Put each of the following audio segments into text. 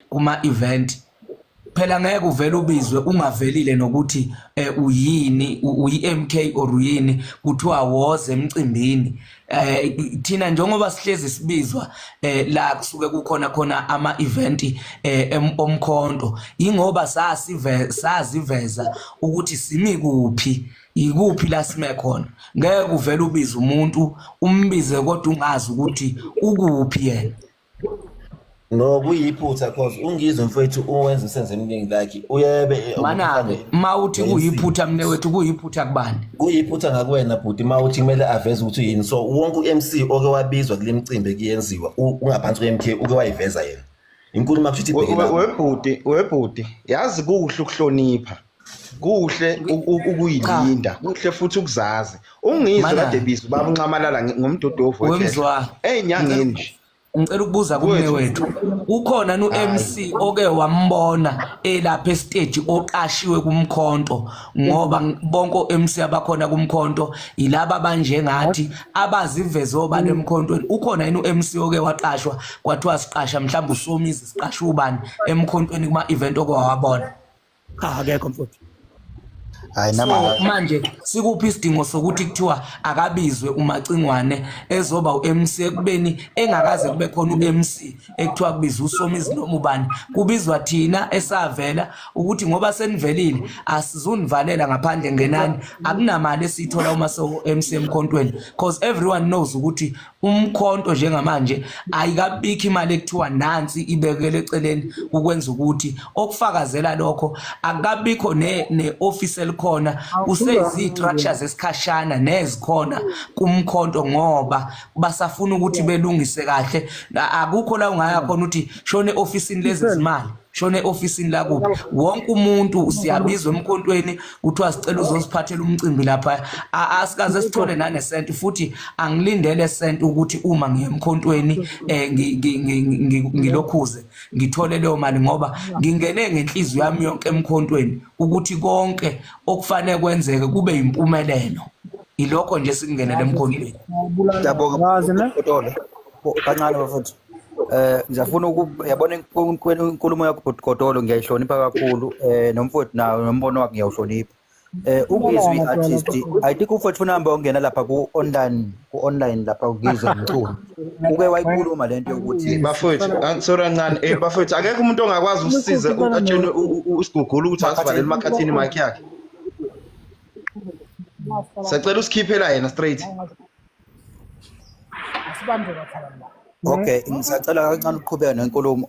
kuma event phela ngeke uvele ubizwe ungavelile nokuthi eh, uyini uyiMK or uyini kuthiwa woze emcimbini eh thina njengoba sihlezi sibizwa eh la kusuke kukhona khona ama event eh omkhonto ingoba sasive saziveza ukuthi simi kuphi yikuphi la sime khona ngeke uvele ubize umuntu umbize kodwa ungazi ukuthi ukuphi yena No kuyiphutha cause ungizwe mfethu uwenza usenze emningi like uyebe eh, Manake uma uthi kuyiphutha mne wethu kuyiphutha kubani? kuyiphutha ngakuwena bhuti ma uthi kumele aveze ukuthi uyini so wonke u-MC oke wabizwa kule mcimbi ekuyenziwa u- ungaphansi kwe-MK uke wayiveza yena inkulumo akusho ukuthi We- ibheke we- lapho. webhuti webhuti yazi kuhle ukuhlonipha kuhle ukuyilinda kuhle futhi ukuzazi ungizwe kade bizo baba unxamalala ngomdodovu wemzwa ezinyangeni nje ngicela ukubuza kume wethu ukhona nu MC oke wambona elapha estage oqashiwe kumkhonto ngoba bonke MC abakhona kumkhonto yilaba banjengathi abaziveze obani emkhontweni ukhona yini uMC oke waqashwa kwathiwa siqasha mhlawumbe usomizi siqasha ubani emkhontweni kuma event okwawabona cha akekho mfowethu hayi so manje sikuphi isidingo sokuthi kuthiwa akabizwe umacingwane ezoba uMC ekubeni engakaze kube khona uMC ekuthiwa kubiza usomizi noma ubani kubizwa thina esavela ukuthi ngoba senivelile asizunivalela ngaphandle ngenani akunamali esithola uma so MC emkhontweni because everyone knows ukuthi umkhonto njengamanje ayikabikho imali ekuthiwa nansi ibekele eceleni ukwenza ukuthi okufakazela lokho akabikho ne neoffice elikhona kuseyizistructures esikhashana nezikhona kumkhonto ngoba basafuna ukuthi belungise kahle akukho la ungaya khona uthi shone office lezi zimali shona eofisini lakubi wonke umuntu siyabizwa emkhontweni kuthiwa sicela uzosiphathela umcimbi lapha asikaze sithole nanesent futhi angilindele sent ukuthi uma ngiye emkhontweni eh, ngilokhuze ngithole leyo mali ngoba ngingene ngenhliziyo yami yonke emkhontweni ukuthi konke okufanele kwenzeke kube yimpumelelo ilokho nje sikungenele emkhontweni kancane bafowethu Eh ngiyafuna ukuyabona inkulumo yakho bhuti Godolo ngiyayihlonipha kakhulu eh nomfowethu nawo nombono wakhe ngiyawuhlonipha. Eh uGizwi artist I think umfowethu funa hamba ongena lapha ku online ku online lapha uGizwi umculo. Uke wayikhuluma lento yokuthi eh, bafowethu ah, sorry kancane eh bafowethu akekho umuntu ongakwazi ukusiza atshele usigugula ukuthi asivalele emakhathini mic yakhe. Sacela usikhiphela yena straight. asibambe bathala la okay ngisacela kancane ukuqhubeka nenkulumo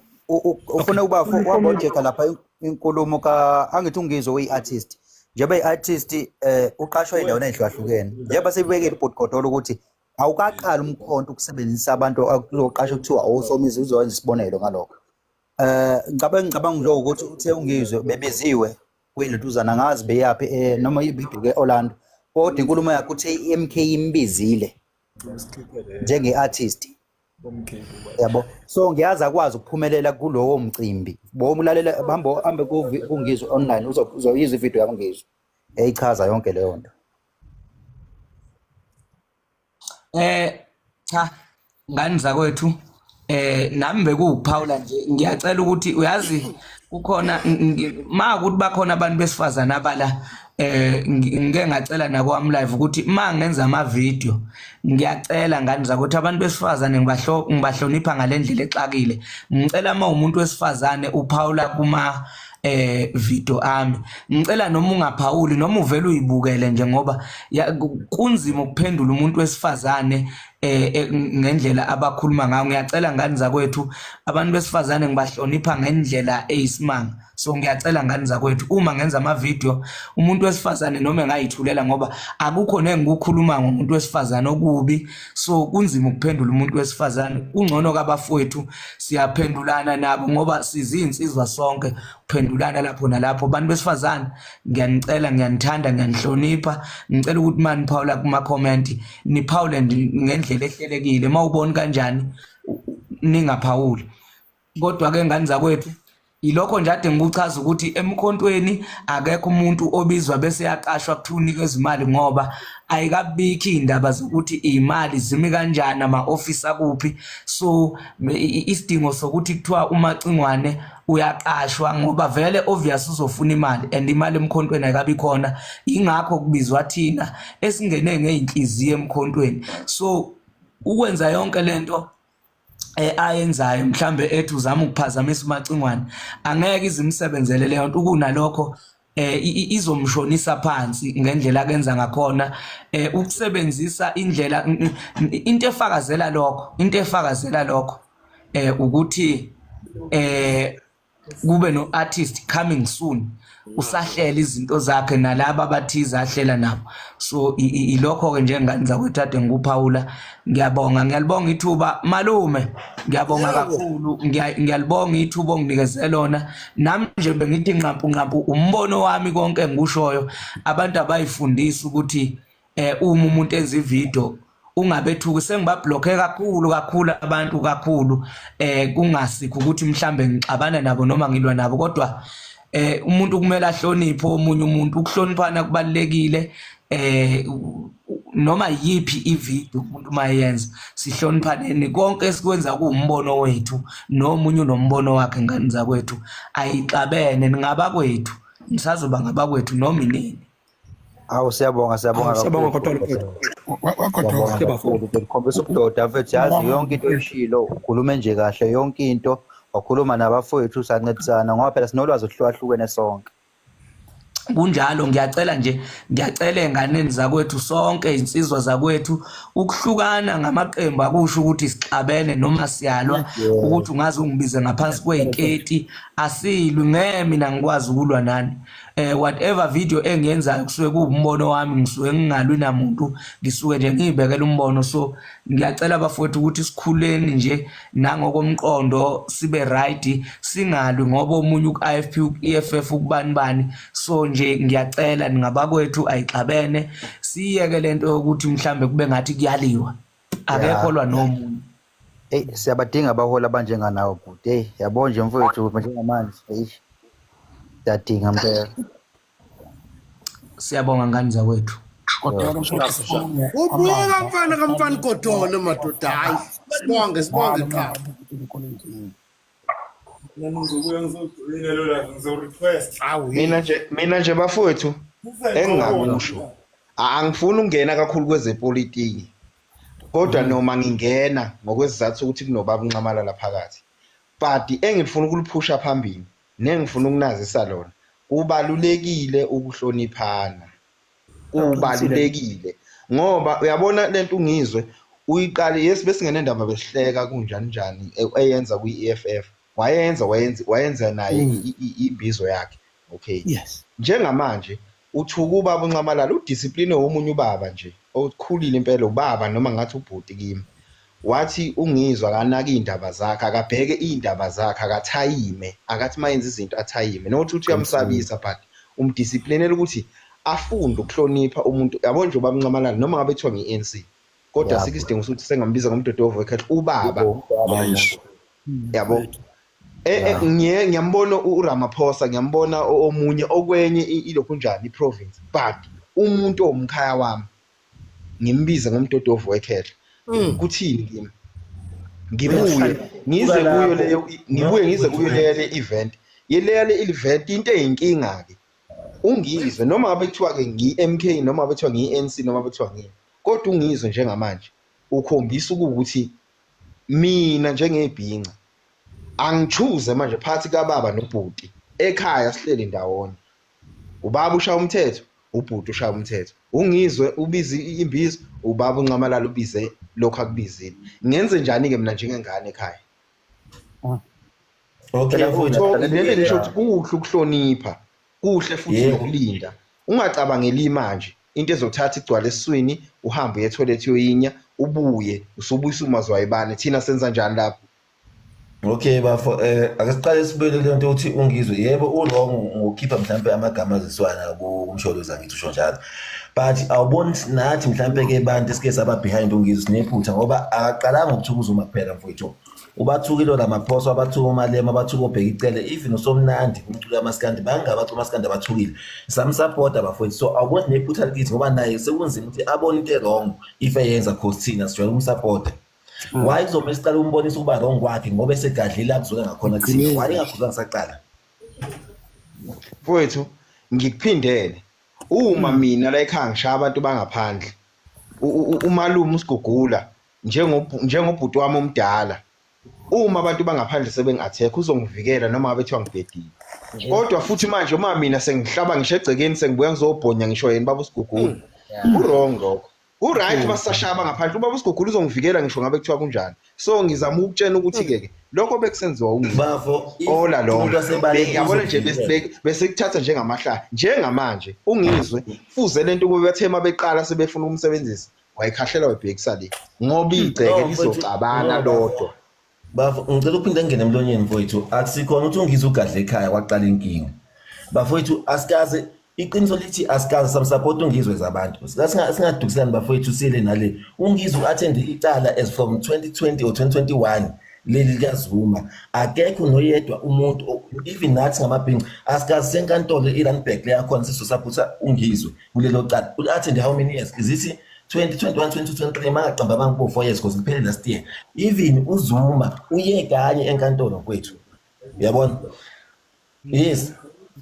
ufuna ukuba wabojeka lapha inkulumo ka angithi ungizwe uyi-artist njengoba i-artist eh uqashwa endaweni ezihlukene njengoba sebekele ubhuti godola ukuthi awukaqali umkhonto ukusebenzisa abantu akuzoqasha kuthiwa awusomizi uzowenza isibonelo ngalokho eh ngicabanga ngicabanga nje ukuthi uthe ungizwe bebiziwe kuyinduduzana angazi beyaphi eh noma ibibheke Orlando kodwa inkulumo yakhe uthe iMK imbizile njenge-artist yabo so ngiyazi akwazi ukuphumelela kulowo mcimbi bomulalela hambe hambe kungizwe online uzoyizwa ivideo yakungizwe eyichaza yonke leyo nto eh cha ngani zakwethu eh nami bekuwuphawula nje ngiyacela ukuthi uyazi kukhona ma ukuthi bakhona abantu besifazana abala eh ngike ngacela nakwami live ukuthi ma ngenza ama video ngiyacela ngani zakuthi abantu besifazane ngibahlo ngibahlonipha ngalendlela exakile ngicela uma umuntu wesifazane uphawula kuma eh video ami ngicela noma ungaphawuli noma uvela uyibukele nje ngoba kunzima ukuphendula umuntu wesifazane eh, eh ngendlela abakhuluma ngayo ngiyacela ngani zakwethu abantu besifazane ngibahlonipha ngendlela eyisimanga so ngiyacela ngani zakwethu uma ngenza ama video umuntu wesifazane noma engayithulela ngoba akukho nengikukhuluma ngomuntu wesifazane okubi so kunzima ukuphendula umuntu wesifazane kungcono kabafowethu siyaphendulana nabo ngoba sizinsizwa sonke kuphendulana lapho nalapho abantu besifazane ngiyanicela ngiyanithanda ngiyanihlonipha ngicela ukuthi maniphawula kuma comment niphawule ngendlela ehlelekile mawuboni kanjani ningaphawuli kodwa ke ngani zakwethu yilokho nje ade ngikuchaza ukuthi emkhontweni akekho umuntu obizwa bese yaqashwa kuthiwa unikwe izimali ngoba ayikabikho iy'ndaba zokuthi iy'mali zimi kanjani ama-ofisi akuphi so isidingo sokuthi kuthiwa umacingwane uyaqashwa ngoba vele obvious uzofuna imali and imali emkhontweni ayikabi khona yingakho kubizwa thina esingene ngey'nhliziyo emkhontweni so ukwenza yonke le nto eh, ayenzayo mhlambe ethi uzama ukuphazamisa umacingwane angeke izimsebenzele leyo nto kunalokho eh izomshonisa phansi ngendlela akenza ngakhona eh ukusebenzisa indlela into efakazela lokho into efakazela lokho eh ukuthi eh kube no artist coming soon usahlela izinto zakhe nalabo abathize ahlela nabo so ilokho ke njengani zakwethu ade ngikuphawula ngiyabonga ngiyalibonga ithuba malume ngiyabonga kakhulu ngiyalibonga ithuba onginikeze lona nami nje bengithi nqampu nqampu umbono wami konke engikushoyo abantu abayifundisa ukuthi eh uma umuntu enza ivideo ungabethuki sengibablockhe kakhulu kakhulu abantu kakhulu eh kungasikho ukuthi mhlambe ngixabana nabo noma ngilwa nabo kodwa eh umuntu kumele ahloniphe omunye umuntu ukuhloniphana kubalekile eh noma yipi ivideo umuntu mayenza sihloniphaneni konke esikwenza kuumbono wethu nomunye unombono wakhe ngani zakwethu ayixabene ningabakwethu nisazoba ngabakwethu noma inini Awu siyabonga siyabonga Awu, siyabonga kakhulu. kodwa Lord. Wa- wa- Wagodoka. Siyabonga Siyabonga. kakhulu. Ubelikhombisa ubudoda mfethu yazi Siyabonga. yonke into oyishilo ukhulume nje kahle yonke into wakhuluma nabafowethu sancedisana ngoba phela sinolwazi oluhlukahlukene sonke. kunjalo ngiyacela nje ngiyacela enganeni zakwethu sonke insizwa zakwethu ukuhlukana ngamaqembu akusho ukuthi sixabene noma siyalwa ukuthi ungaze ungibize ngaphansi kweyiketi asilwi ngeke mina ngikwazi ukulwa nani eh whatever video engiyenzayo kusuke kuwumbono wami ngisuke ngingalwi namuntu ngisuke nje ngiyibekela umbono so ngiyacela abafowethu ukuthi sikhuleni nje nangokomqondo sibe right singalwi ngoba omunye uIFP uEFF ukubani bani so nje ngiyacela ningabakwethu ayixabene siyeke lento yokuthi mhlambe kube ngathi kuyaliwa akekho lwa nomuntu Eyi siyabadinga abaholi abanjenganawo bhuti. Eyi yabo nje mfowethu njengamanje. Eyi siyadinga mpela. Siyabonga ngani zakwethu. Kodwa mfowethu sibonge Ubuka amava mfana kamfana igodole madoda hayi. Sibonge sibonge qha. Awu mina nje mina nje bafowethu engingakusho A- angifuni ukungena kakhulu kwezepolitiki kodwa mm. noma ngingena ngokwesizathu ukuthi kunobaba unxamala laphakathi but engifuna ukuliphusha phambili nengifuna ukunazisa lona kubalulekile ukuhloniphana kubalulekile ngoba uyabona lento ungizwe uyiqale yes besingene ndaba besihleka kunjani njani e, eyenza kwi-EFF wayenza wayenza wayenza naye Mm. i- i- imbizo yakhe okay yes njengamanje uthuku ubaba unxamalala udiscipline womunye ubaba nje okhulile impela ubaba noma ngathi ubhuti kimi wathi ungizwa akanaki iy'ndaba zakhe akabheke iy'ndaba zakhe akathayime akathi uma yenza izinto athayime nokuthi uthi uyamsabisa but umdisciplinele ukuthi afunde ukuhlonipha umuntu yabo nje ubaba unxamalala noma ngabe kuthiwa ngi-anc kodwa Yabo. asikho isidingo sokuthi sengambiza ngomdodovo wekhehle ubaba Yebo, ubaba Yes. nami. yabo Eh, eh ngiye ngiyambona uRamaphosa ngiyambona omunye okwenye ilokhu njani iprovince but umuntu omkhaya wami ngimbize ngomdodovu wekhehla hmm. kuthini kimi ngibuye ngize kuyo leyo ngibuye ngize kuyo leyo le event yeleya le event into eyinkinga ke ungizwe noma ngabe kuthiwa ke ngiMK noma ngabe kuthiwa ngiNC noma ngabe kuthiwa ngini kodwa ungizwe njengamanje ukhombisa ukuthi mina njengebhinca angichuze manje phathi kababa nobhuti ekhaya sihleli ndawonye ubaba ushaya umthetho ubhuti ushaya umthetho ungizwe ubize imbizo ubaba uncamalala ubize lokho akubizile ngenze njani ke mina njengengane ekhaya ah. okay lento ngisho ukuthi kuhle ukuhlonipha kuhle futhi nokulinda ungacabangeli imanje into ezothatha igcwala esiswini uhambe uye toilet yoyinya ubuye usubuyisa umazwayibane thina senza njani lapho Okay bafo eh ake siqale sibele le nto uthi ungizwe yebo uwrong ngokukhipha mhlambe amagama aziswana kumsholozi angithi usho njalo but awuboni nathi mhlambe ke abantu esike saba behind ungizwe sinephutha ngoba akaqalanga ukuthukuza uma kuphela mfowethu ubathukile oramaphosa abathuka umalema abathuka obheka icele even usomnandi umculo kamaskandi bangabe abacula umaskandi abathukile samsapota bafowethu so awukwenzi nephutha likithi ngoba naye sekunzima ukuthi abone into erong if eyenza cause thina sijwayele ukumsapota mm. why kuzomele siqale umbonisa ukuba rong kwakhe ngoba esegadlile akuzwela ngakhona thina why engakhuzwa ngisaqala mfowethu ngikuphindele uma mm. mina la ekhaya ngishaye abantu bangaphandle umalume usigugula njengobhuti wami omdala uma abantu bangaphandle sebengi-attack uzongivikela noma ngabe kuthiwa ngibhedile kodwa futhi manje uma mina sengihlaba ngisho egcekeni sengibuya ngizobhonya ngisho yena baba usigugula hmm. u-wrong lokho u-right hmm. basashaya bangaphandle ubaba usigugula uzongivikela ngisho ngabe kuthiwa kunjani so ngizama ukutshena ukuthi-ke ke lokho bekusenziwa ungizola loyabona nje besikuthatha njengamahlaya njengamanje ungizwe fuze le nto kube bathe uma beqala sebefuna ukumsebenzisa wayikhahlela wayibhekisa le ngoba igceke lizocabana lodwa bafo ngicela uphinde ngene emlonyeni mfowethu akusikhona ukuthi ungize ugadle ekhaya kwaqala inkinga bafowethu asikaze iqiniso lithi asikaze samsupport ungizwe zabantu singadukiselani bafowethu sile nale ungizwe u-athende icala as from 2020 or 2021 leli likazuma akekho noyedwa umuntu even nathi ngamabhinci asikaze senkantolo i-runback leyakhona sisosaphusa ungizwe kulelo cala u-attend how many years is it 2021 2023 mangaqamba abantu bo 4 years because kuphele last year even uzuma uye kanye enkantolo kwethu uyabona yes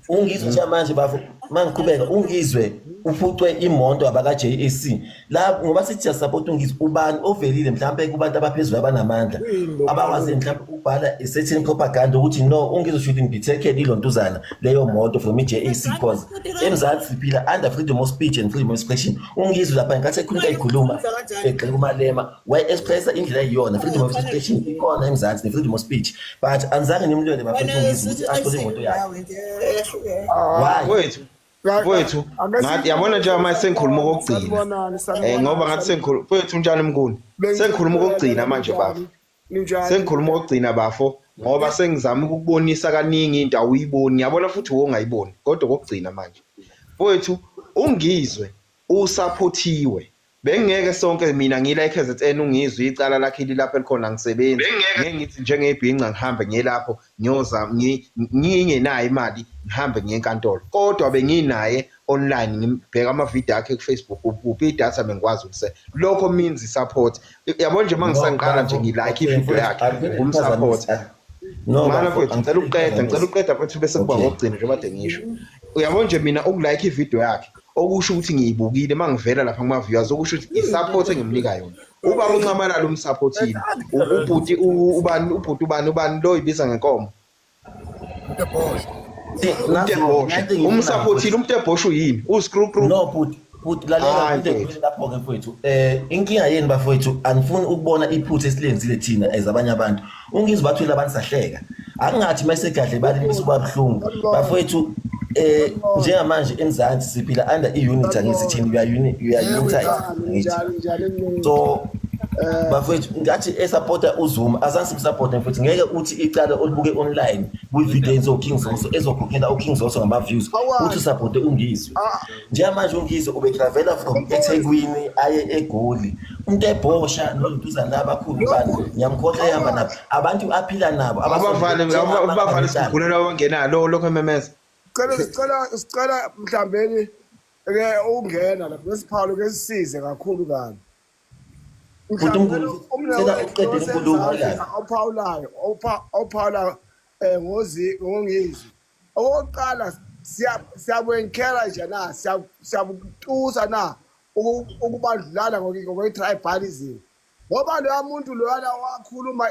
ungizwe manje bafo mangiqhubeka ungizwe uphucwe imoto abaka-JAC la ngoba sithi siyasapota ungithi ubani ovelile mhlawumpe kubantu abaphezulu abanamandla abakwazi mhlawumpe ukubhala i-certain propaganda ukuthi no ungizwe shooting bithekele ilontuzana leyo moto from i-jac cause emzansi siphila under freedom of speech and freedom of expression ungizwe lapha nkathi ekhuluma ikhuluma egxeka umalema wayi-expressa indlela eyiyona freedom of expression ikhona emzansi ne-freedom of speech but anizange nimlwele bafethu ungizwe ukuthi athole imoto yakhe why Mfowethu, ngathi yabona nje manje sengikhuluma okugcina. Eh ngoba ngathi sengikhuluma mfowethu unjani mnguni? Sengikhuluma okugcina manje bafo. Sengikhuluma okugcina bafo ngoba sengizama ukubonisa kaningi into awuyiboni. Yabona futhi wongayiboni kodwa okugcina manje. Mfowethu ungizwe usaphothiwe. Bengingeke sonke mina ngila eKZN ungizwe icala lakhe lilapha elikhona ngisebenzi. Ngeke ngithi njengebhinca ngihambe ngiyelapho ngiyoza ngingenayo imali ngihambe ngiye enkantolo. Kodwa benginaye online ngibheka amavidiyo akhe kuFacebook kuphi idatha bengikwazi ukuse. Lokho means support. Yabo nje mangisaqala nje ngilike ivideo yakhe ngumsupport. No, Mana mfethu ngicela ukuqeda, ngicela ukuqeda mfethu bese kuba ngokugcina njengoba de ngisho. Uyabo nje mina ukulike ivideo yakhe okusho ukuthi ngiyibukile mangivela lapha kuma viewers okusho ukuthi isupport engimnika yona uba unxamalala umsupportile ubhuti ubani ubhuti ubani ubani lo ibiza ngenkomo umsupportile umuntu ebhoshu yini uscrewcrew no bhuti bhuti lalela into lapho ke mfowethu eh inkinga yenu bafowethu angifuni ukubona iphutha esilenzile thina as abanye abantu ungizwa bathwile abantu sahleka akungathi uma segadle bali bisuba buhlungu bafowethu eh njengamanje emzansi siphila under i-unit angithi thina we are unit we are united ngithi so eh, bafowethu ngathi esupporta uzuma azange simsupporte mfowethu ngeke uthi icala olibuke online kwi-video ezoking zoso ezokhokhela uking zoso ngama-views uthi usupporte ungizwe ah. njengamanje ungize ubetraveler from ethekwini aye egoli umuntu ebhosha noluduzane labakhulu bani ngiyamkhohlwa ehamba nabo abantu aphila nabo abavale abavale sikhulelwa ongenalo lokho ememeza cela sicela sicela mhlambeni ke ungena lapho nesiphalo ke sisize kakhulu kabi uNkulunkulu cela uqede inkulumo la ophawulayo ophawula eh, ngozi ngongizwe okokuqala siyabu-enkera nje na siyabutusa na ukubandlulana ngokwe-tribalism ngoba loya muntu loyana wakhuluma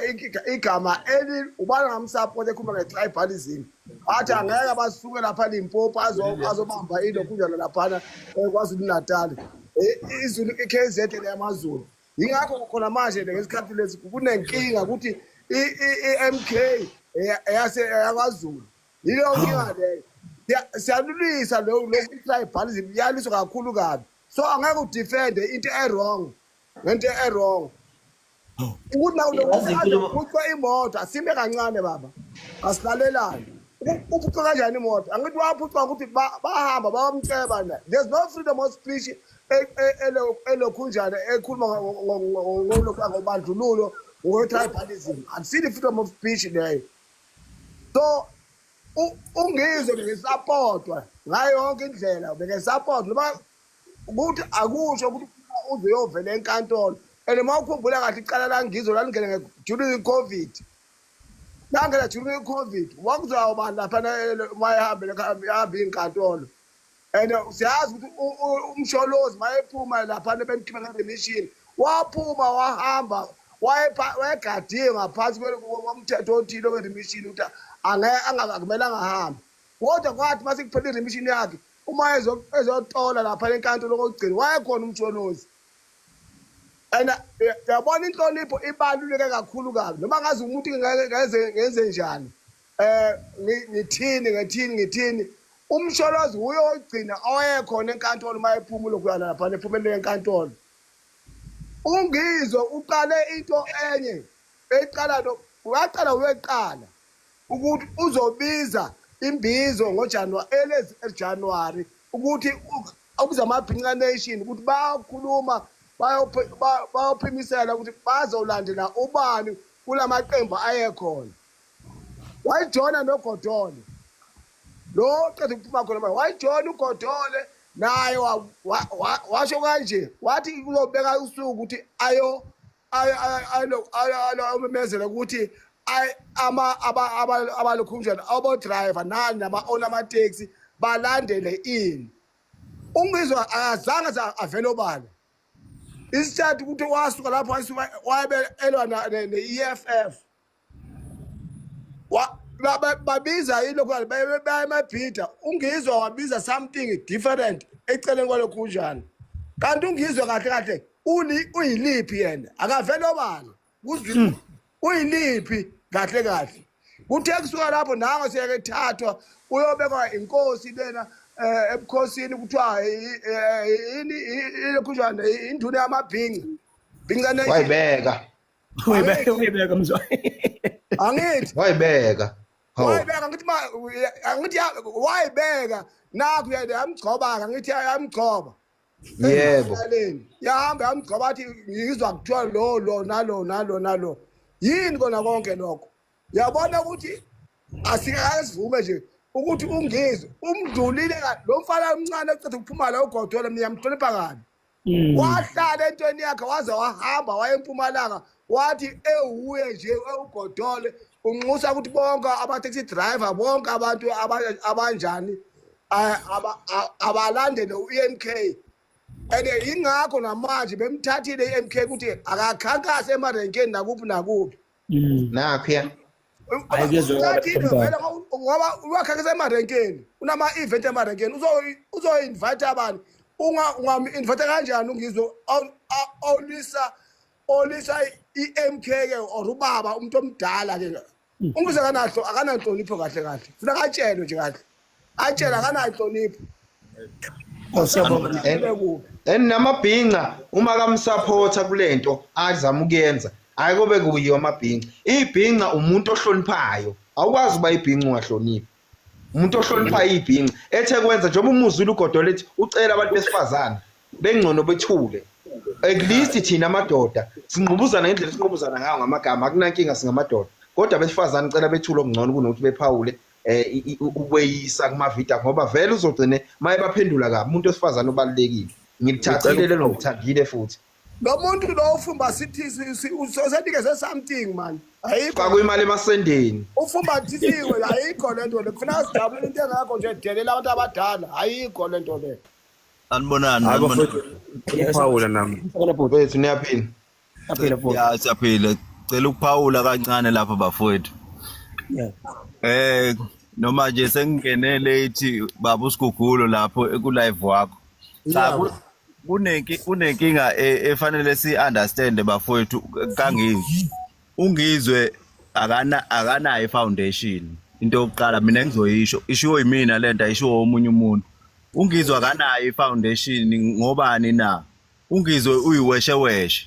igama eli ubana ngamsapoti ekhuluma nge-tribalism athi angeke basuke lapha limpopo azobamba ilokhunjana laphana eh, kwazulu natali izulu i-k z leyamazulu yingakho khona manje le ngesikhathi lesi kunenkinga ukuthi i-mk eyakwaZulu yileyo nkinga leyo siyalulisa lokutribalism iyaliswa kakhulu kabi so angeke udefende into e-wrong ngento e-wrong ukuthi nakulokuthwa imoto asime kancane baba asilalelane uphucwa kanjani imoto angithi waphucwa ukuthi bahamba bawamceba na there's no freedom of speech elokhunjana ekhuluma ngobandlululo ngo-tribalism akusile i-freedom of speech leyo so ungizwe bengisapotwa ngayo yonke indlela bengisapotwa noma ukuthi akusho ukuthi uze uyovela enkantolo and uma ukhumbula kahle icala langizwe lalingene during i-covid langena during i-covid wakuzawuba lapha mayihambele ihamba iy'nkantolo and siyazi ukuthi umsholozi mayephuma lapha nebemkhipha ngemishini waphuma wahamba wayegadiwe ngaphansi komthetho othile weremishini ukuthi akumele angahambi kodwa kwathi uma sekuphela iremishini yakhe uma ezotola lapha enkantolo kokugcina wayekhona umsholozi and eh, yabona inhlonipho ibaluleke kakhulu kabi noma ngazi umuntu ngenze njani Eh ngi- ngithini ngithini ngithini umsholozi wuye ogcina oyekhona enkantolo uma ephuma ulokhuyana laphana ephumelele enkantolo ungizwe uqale into enye eqala no waqala weqala ukuthi uzobiza imbizo ngojanuwari elezi ejanuwari ukuthi u- ukuze amabhinca nation ukuthi bayokhuluma bayophi- ba- bayophimisela ukuthi bazolandela ubani kula maqembu ayekhona wayijona nogodole lo qeda ukuphuma khona manje wayijona ugodole naye wa- wa- wa- washo kanje wathi uzobeka usuku ukuthi ayo ayo- ayo- ayo- ayo- ayo- ayomemezela ukuthi ay- ama- aba- aba- abalokhunjana abodrayiva nani nama-ona amateksi balandele ini ungizwa akazange sa- avele obala isithathu ukuthi wasuka lapho wayisuka- wabe elwa na- ne- ne-eff babiza yini lokho baya emabhida ungizwa wabiza something different eceleni kwalokho kunjani kanti ungizwe kahle kahle uyiliphi yena akavele obala hmm. uyiliphi kahle kahle kuthe kusuka lapho nango siyeke thathwa uyobekwa inkosi lena eh, ebukhosini kuthiwa eh, yini ilokhunjana induna yamabhinca bhinca wayibeka Uyibeka uyibeka mzwayi. Angithi. Wayibeka. Hawu. Wayibeka ngithi ma angithi wayibeka nakho yena yamgcoba ngithi yamgcoba. Yebo. Yahamba yamgcoba athi ngizwa kuthiwa lo lo nalo nalo nalo. Yini kona konke lokho? Yabona ukuthi asikazivume nje ukuthi ungizwe umdlulile lo mfana omncane oceda ukuphuma la ugodole mina yamhlonipha kabi Mm. wahlala entweni yakhe waze wahamba waya empumalanga wathi ewuye nje ewugodole unxusa ukuthi bonke ama-taxi driver bonke abantu aba- abanjani a- aba- a- abalandele u-m k and yingakho namanje bemthathile i-m k ukuthi akakhankase emarenkeni nakuphi nakuphi Mm. nakho ya Hayi, kuyezwakala Lathi into Mtaka. vele ngoba- ngoba wakha kusemarenkeni unama-event emarenkeni uzo- uzo-invite abani Unga- ungamu-invite kanjani ungizwe aw- aw- awulisa olisa i-m k ke or ubaba umuntu omdala ke ungizwe akanahlo akananhlonipho kahle kahle funa katshelwe nje kahle atshela akanayo hlonipho Oh, siyabonga. Ibe kuphi? and namabhinca uma kamsupporta kulento azama ukuyenza hayi kobe kuyiwa amabhinca ibhinca umuntu ohloniphayo awukwazi uba ibhinca ungahloniphi umuntu ohloniphayo ibhinca ethe kwenza njengoba umuzulu ugodola ethi ucela abantu besifazane bengcono bethule at least thina amadoda singqubuzana ngendlela esinqubuzana ngayo ngamagama akunankinga singamadoda kodwa besifazane cela bethule okungcono kunokuthi bephawule eh ukweyisa kuma video ngoba vele uzogcine maye baphendula kabi umuntu osifazana obalekile ngilithathile lelo ngithandile futhi lo muntu lo ufumba sithi usenikeze something man ayikho faka imali emasendeni ufumba thisiwe ayikho le nto le kufuna sijabule into engakho nje delela abantu abadala ayikho le nto le anibonani anibonani phawula nami bethu niyaphila Aphile futhi. Ya siyaphila. Cela ukuphawula kancane lapha bafowethu. Yeah. Eh noma nje sengingene late baba usigugulo lapho eku live wakho. Cha ku- kunenki kunenkinga e- efanele si understand bafowethu kangizwe. Ungizwe akana akanayo foundation. Into yokuqala mina ngizoyisho ishiwo yimina lento ayishiwo omunye umuntu. Ungizwe akanayo foundation ngobani na? ungizwe uyiwesheweshe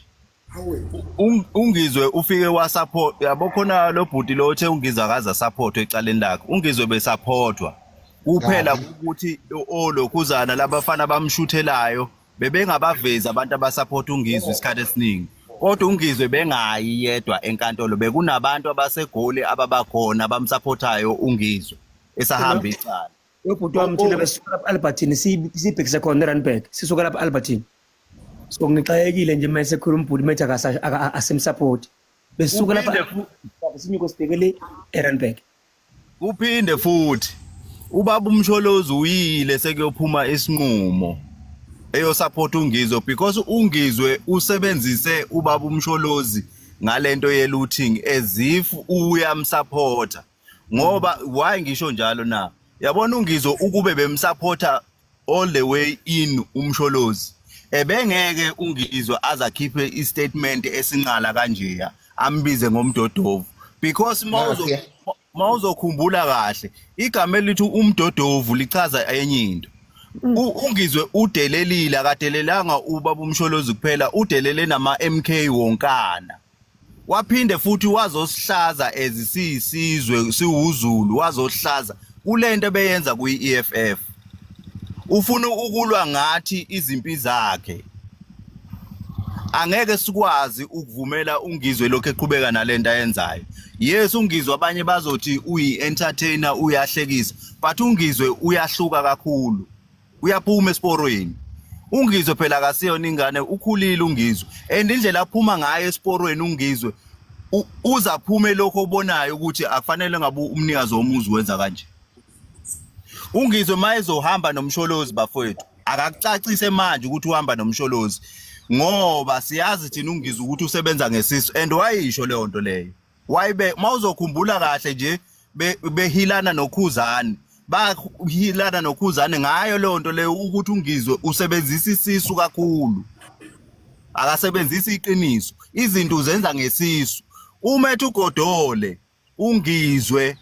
Ung- ungizwe ufike wasupport yabo khona lo bhuti lo othe ungizwe akaze asupportwe ecaleni lakhe ungizwe besupportwa kuphela Kabi. ukuthi olokhuzana labafana bamshuthelayo bebengabavezi abantu abasupport ungizwe isikhathi esiningi kodwa ungizwe bengayi yedwa enkantolo bekunabantu abasegoli ababakhona abamsupportayo ungizwe esahamba icala Ubhuti wami thina besisuka lapha Albertine sibhekise khona eRandburg. Sisuka lapha Albertine. So ngixayekile nje mase khona umbhuti methi akasimsupport. Besisuka lapha sinyuko sibhekele eRandburg. Uphinde futhi ubaba umsholozi uyile sekuyophuma isinqumo eyosupport ungizwe because ungizwe usebenzise ubaba umsholozi ngalento ye looting as if uyamsupporta ngoba why ngisho njalo na yabona ungizo ukube bemsupporter all the way in umsholozi ebengeke ungizwe azakhiphe istatement esinqala kanjeya ambize ngomdodovu because mawuzo mawuzokhumbula kahle igama elithi umdodovu lichaza enye into mm. ungizwe udelelile akadelelanga ubaba umsholozi kuphela udelele nama MK wonkana waphinde futhi wazosihlaza ezisiyisizwe siwuzulu wazohlaza kulento ebeyenza kuyi-EFF ufuna ukulwa ngathi izimpi zakhe angeke sikwazi ukuvumela ungizwe lokho eqhubeka nalento ayenzayo yes ungizwe abanye bazothi uyi-entertainer uyahlekisa but ungizwe uyahluka kakhulu uyaphuma esiporweni ungizwe phela akasiyona ingane ukhulile ungizwe and indlela aphuma ngayo esiporweni ungizwe uza aphume lokho obonayo ukuthi akufanele ngabe umnikazi womuzi wenza kanje ungizwe mayezohamba nomsholozi bafowethu akakucacise manje ukuthi uhamba nomsholozi ngoba siyazi thina ungizwe ukuthi usebenza ngesisu and wayisho leyo nto leyo why be mawuzokhumbula kahle nje behilana nokhuzani bahilana nokhuzani ngayo leyo nto leyo ukuthi ungizwe usebenzisa isisu kakhulu akasebenzisi iqiniso izinto uzenza ngesisu uma ethi ugodole ungizwe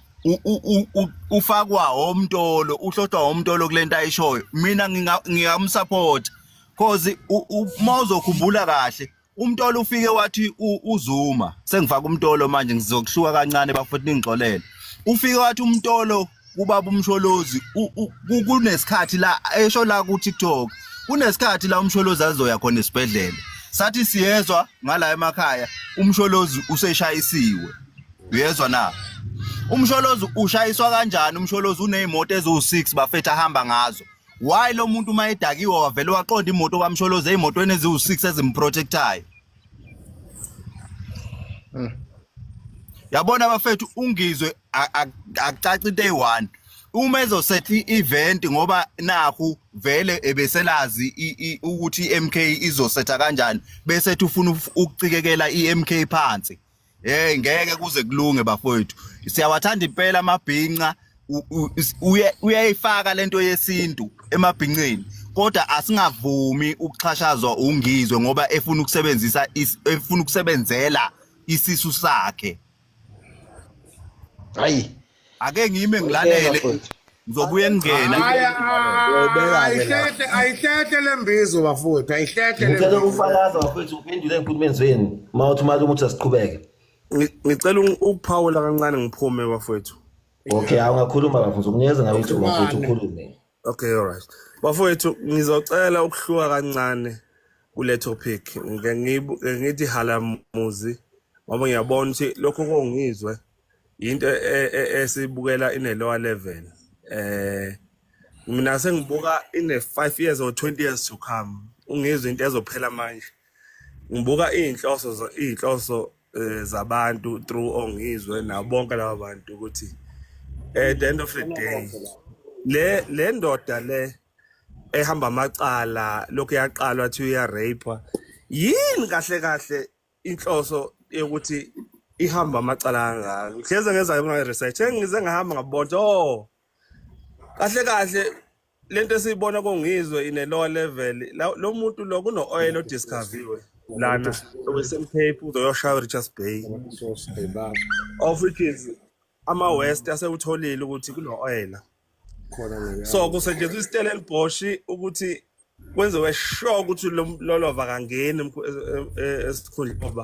ufakwa omtolo uhlohlwa omtolo kulento ayishoyo mina ngingamsupport cause uma uzokhumbula kahle Umtolo ufike wathi uZuma sengifaka umtolo manje ngizokuhluka kancane bafethu ningixolele. Ufike wathi umtolo kubaba umsholozi kunesikhathi la esho la ku TikTok kunesikhathi la umsholozi azoya khona esibhedlela sathi siyezwa ngala emakhaya umsholozi useshayisiwe uyezwa na umsholozi ushayiswa kanjani umsholozi unezimoto eziwu6 bafethu ahamba ngazo why lo muntu uma edakiwe wavele waqonda imoto kwamsholoze ey'motweni eziwu-six ezimprotectayo hmm. yabona abafethu ungizwe akucaci into eyi-one uma ezosetha i-event ngoba nakhu vele ebeselazi ukuthi i-MK izosetha kanjani bese ufuna ukucikekela i-MK phansi hey ngeke kuze kulunge bafowethu siyawathanda impela amabhinca uyayifaka lento yesintu emabhinceni kodwa asingavumi ukuxhashazwa ungizwe ngoba efuna ukusebenzisa efuna ukusebenzela isisu sakhe hayi ake ngime ngilalele ngizobuye ngingena ayihlehle ayihlehle lembizo bafowethu ayihlehle ngicela ukufakaza bafowethu uphendule enkulumeni zenu uma uthi mali ukuthi asiqhubeke ngicela ukuphawula kancane ngiphume bafowethu okay awungakhuluma bafowethu kunikeza ngabe ukuthi bafowethu ukhulume okay all right bafowethu ngizocela ukuhluka kancane kule topic ngithi halamuzi ngoba ngiyabona ukuthi lokho kongizwe into e- e- esibukela ine lower level eh mina sengibuka ine 5 years or 20 years to come ungizwe into ezophela manje ngibuka izinhloso zo- izinhloso eh, zabantu through ongizwe nabo bonke laba bantu ukuthi at the end of the day le le ndoda le ehamba amacala lokhu yaqalwa thi uyarape yini kahle kahle inhloso yokuthi ihamba amacala kangaka ngihleze ngezayo kunga-research engize ngahamba ngabona o kahle kahle le nto esiyibona kongizwe in a lower level lo muntu lo kuno-oyela odiscoviwe lana owesemcape uzoyoshaya richards bay of which is ama-west asewutholile ukuthi kuno-oyela so kusetshenziswa isitela elibhoshi ukuthi kwenziwe sure ukuthi lolova kangeni esikhundleni ngoba